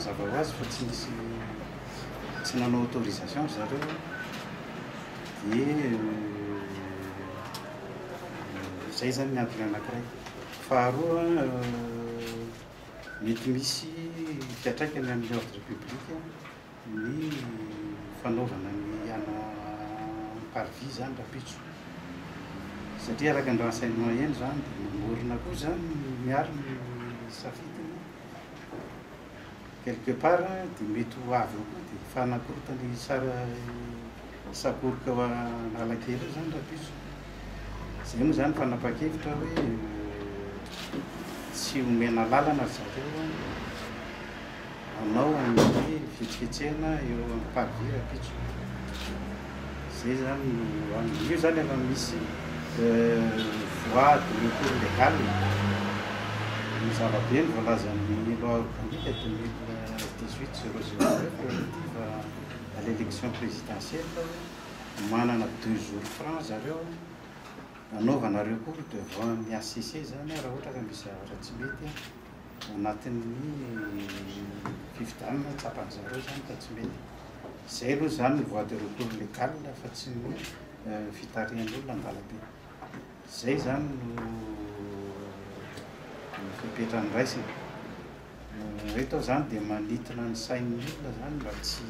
Mazava ho azy fa tsy nisy tsy nanao autorisation ry zareo dia izay zany ny antony anankiray. Faharoa mety misy fiatraikany amin'ny ordre public ny fanaovana ny ana par vie zany rapitso satria araka ny renseignement heno zany dia mamorona koa zany miaro ny safidiny. Quelque part dia mety ho avy eo koa dia fanakorotana i Sara sakoroka ao Analakely eo izany rahampitso. Izay moa izany fanapakevitra hoe tsy omena lalana ry zareo hanao an'io hoe fihetsiketsehana eo amin'ny parvis rahampitso. Zay zany no any. Io zany efa misy voies de recours legal e. Ny zava-be ny voalazan'ny loi organique deux mille dix huit zéro zéro neuf relative à l'élection présidentielle fa hoe manana deux jours francs zareo hanaovana recours devant ny HCC zany raha ohatra ka misy zavatra tsy mety. anatin'ny fifidianana tsapan'ny zareo izany ka tsy mety. Izay aloha izany ny voie de recours légal fa tsy ny fitarihan'olona an-dalambe. Izay izany no fepetra andraisana. Ireto aho izany dia manintona ny sain'ny olona izany mba tsy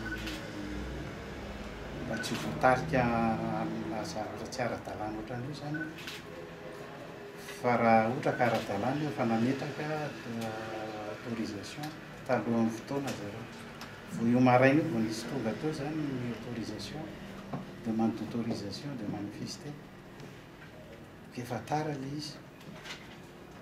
mba tsy ho voatarika amina zavatra tsy ara-dalàna ohatran'io izany aho. Fa raha ohatra ka ara-dalàna io fa nametraka autorisation talohan'ny fotoana zareo. Vao io maraina io vao nisy tonga teo izany ny autorisation, demande d'autorisation de manifester. Efa tara ilay izy.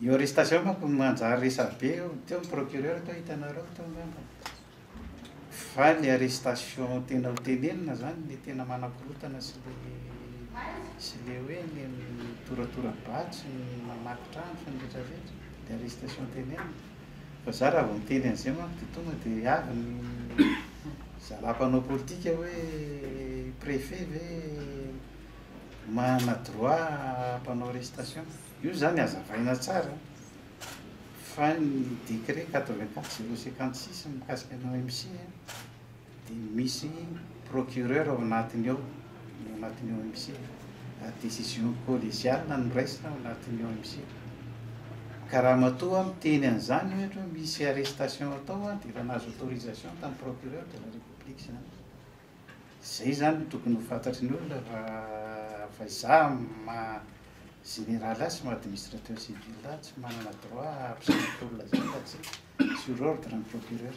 Io arrestation manko manjary resabe io, teo ny procureur teo hitanareo teo ngamba, fa ny arrestation tena ho tenenina zany le tena manakorotana sy le sy le hoe le mitoratora-bato sy ny mamaky trano sy ny retraretra le arrestation tenenina fa za raha vao miteny an'zay manko de tonga de avy ny zalahy mpanao politika hoe prefet ve manana droit hampanao arrestation. Io izany hazavaina tsara fa ny décret quatre vingt quatre zéro cinquante six mikasika ny OMC dia misy procureur ao anatiny ao, ao anatin'ny OMC, ary décision collégiale no raisina ao anatin'ny OMC. Ka raha matoa miteny an'izany ohatra hoe misy arrestation atao dia efa nahazo autorisation tamin'ny procureur de la république izany. Izay izany no tokony ho fantatry ny olona fa fa izaho amin'ny maha général ahy sy maha administrateur civil ahy tsy manana droit hampisanatolona izany raha tsy sur ordre ny procureur.